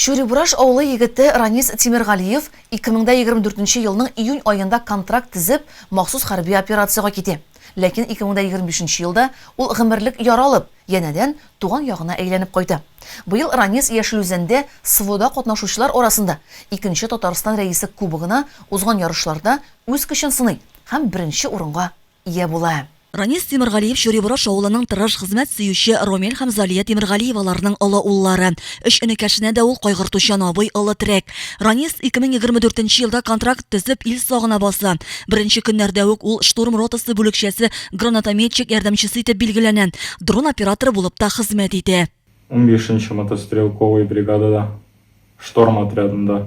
Чүрибураш авылы егете Ранис Тимергалиев 2024 елның июнь аенда контракт тезеп, махсус хәрби операциягә китә. Ләкин 2025 елда ул гомерлек яра алып, янәдән туган ягына әйләнеп кайта. Быел Ранис Яшел Үзәндә СВОда катнашучылар арасында икенче Татарстан Рәисе Кубогына узган ярышларда үз көчен сыный һәм беренче урынга ия була. Ранис Тимергалиев Чуривораш авылының тырыш, хезмәт сөюче Ромил һәм Залия Тимергалиеваларның олы уллары. Өч энекәшенә дә ул кайгыртучан абый, олы терәк. Ранис 2024 елда контракт төзеп, ил сагына баса. Беренче көннәрдә үк ул штурм ротасы бүлекчәсе гранатометчик ярдәмчесе итеп билгеләнә, дрон операторы булып та хезмәт итә. Унбишенче мотострелковый бригадада, шторм отрядында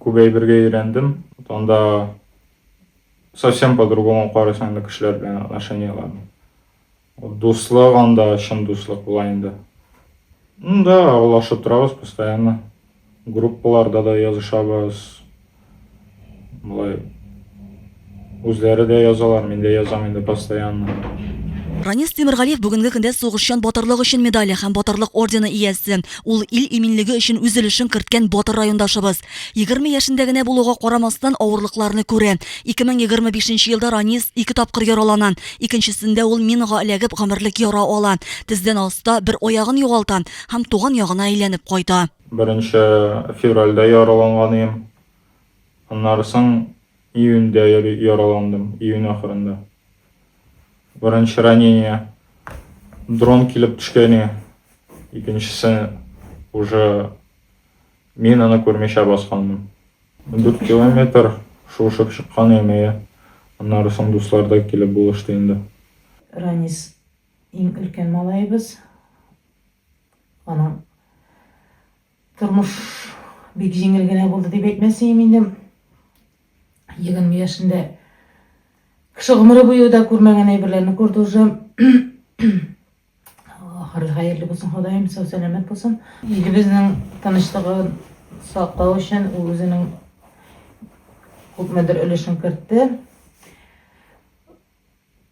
күп әйбергә өйрәндем. Анда совсем по-другому карыйсың инде кешеләр белән отношенияләрне. Дуслык анда чын дуслык була инде. Ну да, аралашып торабыз постоянно. Группаларда да язышабыз. Болай үзләре дә язалар, мин дә язам инде постоянно. Ранис Тимергалиев бүгенге көндә сугышчан батырлык өчен медале һәм батырлык ордены иясе. Ул ил иминлеге өчен үз өлешен керткән батыр райондашыбыз. 20 яшендә генә булуга карамастан, авырлыкларны күрә. 2025 елда Ранис ике тапкыр яралана. Икенчесендә ул минага эләгеп гомерлек яра ала, тездән аста бер аягын югалта һәм туган ягына әйләнеп кайта. Беренче февральдә яраланган идем. Аннары соң июньдә яраландым, июнь ахырында. Беренче ранение дрон килеп төшкәне, икенчесе уже минаны күрмичә басканмын. Дүрт километр шуышып чыккан идем, әйе. Аннары соң дуслар да килеп булышты инде. Ранис, иң өлкән малаебыз. Аның Тормыш бик җиңел генә булды дип әйтмәсеем инде. Егерме яшендә кеше гомере буе да күрмәгән әйберләрне күрде уже. Ахыры хәерле булсын Ходаем, сау сәламәт булсын. Илебезнең тынычлыгын саклау өчен ул үзенең күпмедер өлешен кертте.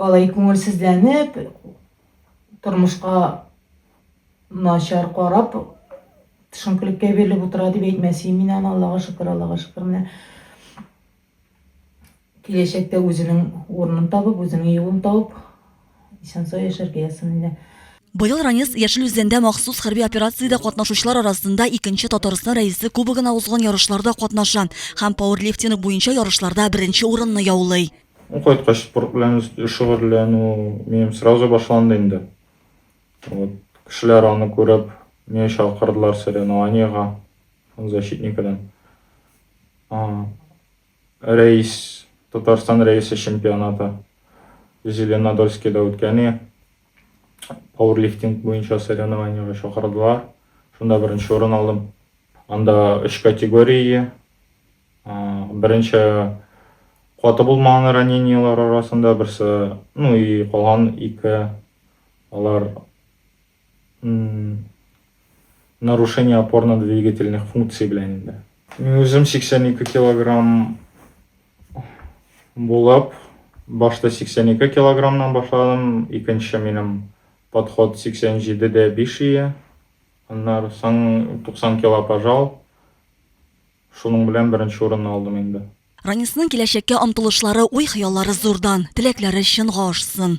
Алай күңелсезләнеп, тормышка начар карап, төшенкелеккә бирелеп утыра дип әйтмәсем мин аны, Аллага шөкер, Аллага шөкер, менә киләчәктә үзенең урынын табып, үзенең юлын табып, Исән-сау яшәргә язсын әле. Быел Ранец Яшел Үзәндә махсус хәрби операциядә катнашучылар арасында икенче Татарстан Рәисе Кубогына узган ярышларда катнаша һәм пауэрлифтинг буенча ярышларда беренче урынны яулый. Ул кайткач, спорт белән шөгыльләнү минем сразу башланды инде. Вот, кешеләр аны күреп, мине чакырдылар соревнованиегә, защитникадан. Рәис, Татарстан Рәисе чемпионаты Зеленодольскида үткәни, пауэрлифтинг буенча соревнованиега чакырдылар. Шунда беренче урын алдым. Анда өч категория. Беренче каты булмаган ранениелар арасында берсе, ну и калган ике алар Нарушение опорно-двигательных функций белән инде. Мин үзем 82 килограмм булып, башта 82 килограммнан башладым, икенче минем подход 87-дә 5 ие, аннары соң 90 кило пожал, шуның белән беренче урынны алдым инде. Ранисның киләчәккә омтылышлары, уй-хыяллары зурдан, теләкләре чынга ашсын!